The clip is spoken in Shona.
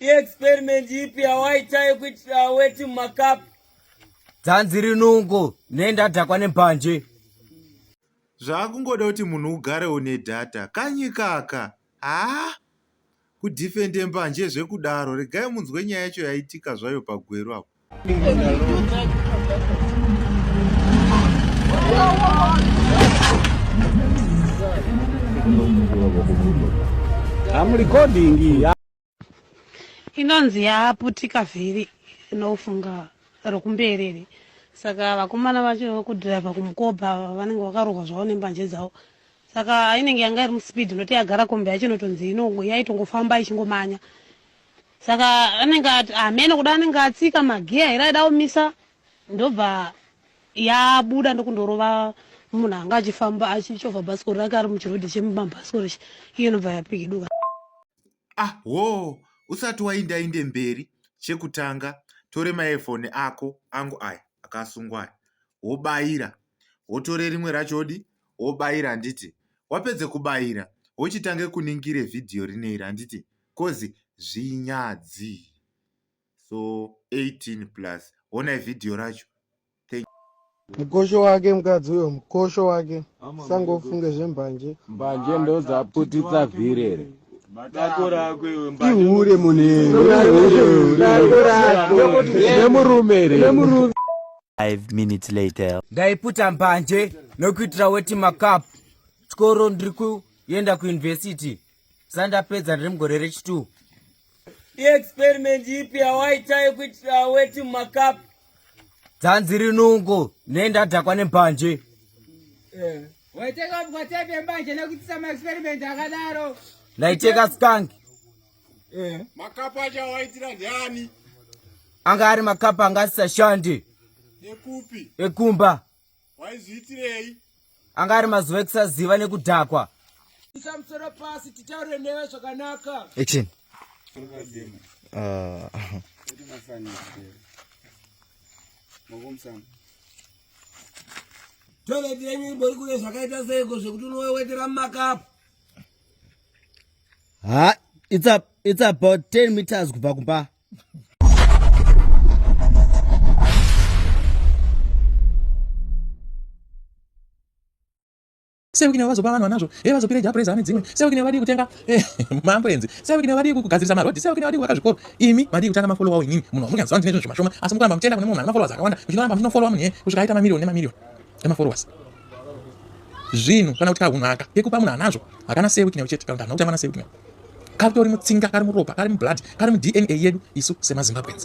Experiment ipi yawaita yekuti aweti makapu? Dzanzi rinungo nendadhakwa nembanje. Zvakungoda kuti munhu ugare une data kanyi kaka. Haa kudhifende mbanje zvekudaro regai munzwe nyaya yacho yaitika zvayo pagweru apo. I'm recording here. inonzi yaputika vhiri inofunga rokumberere saka vakomana vacho kudhiraivha kumukoba vanenge vakarohwa zvavo nembanje dzavo saka inenge yanga iri muspeed noti yagara kombi yacho inotonzi yaitongofamba ichingomanya saka anenge ati hameno ah, kuda anenge atsika magiya here aida kumisa ndobva yabuda ndokundorova munhu anga achifamba achichovha bhasikoro rake ari muchirodhi chemubhasikoro ichi iyo inobva yapikiduka ahwo usati waindainde mberi chekutanga tore maefoni ako angu aya akasungwa aya wobayira wotore rimwe racho odi wobayira handiti wapedze kubayira wochitange kuningire vhidhiyo rineri handiti coz zvinyadzi so 18 plus honai vhidhiyo racho Mukosho wake mukadzi uyo mukosho wake sangofunge zvembanje mbanje ndodzaputitsa vhirere ihure munhunemurume minutes later ndaiputa mbanje nokuitira weti macup chikoro ndiri kuenda kuuniversity sandapedza ndiri mugore rechitu iexperiment ipi yawaita yekuitira weti mumakapu dzanzi rinungo ne ndadhakwa nembanje eh. waiteka mukatapi yembanje nekuitisa maexperiment akadaro ndaiteka skank eh. makapu acho awaitira ndiani anga ari makapu anga asisashandi ekupi ekumba waizviitirei anga ari mazuva ekusaziva nekudhakwa isa musoro pasi titaure newe zvakanaka action ah. toilet yenyu imbori kune zvakaita seiko zvekuti unowewetera mumakapu ha it's, a, it's about 10 meters kubva kumba sewikine vazopa vanhu vanazvo e eh, vazopira japresa ane dzimwe sewikine vadii kutenga eh, maamburenzi sewikine vadii kugadzirisa marodhi sewikine vadii kuvaka zvikoro imi madii kutanga mafolowa wo inini munhu wamunyanziva ndine zvinhu zvimashoma asi mukuramba muchienda kune munhu ane mafollowers akawanda muchinoramba muchinofolowa munhu ye eh, kusvika aita mamirioni nemamirioni emafollowers zvinhu kana kuti kahunhu aka kekupa munhu anazvo hakana sewikine uchete kana kuti hana kutangwa na sewikine katori mutsinga kari muropa kari mublood kari mudna yedu isu semazimbabwens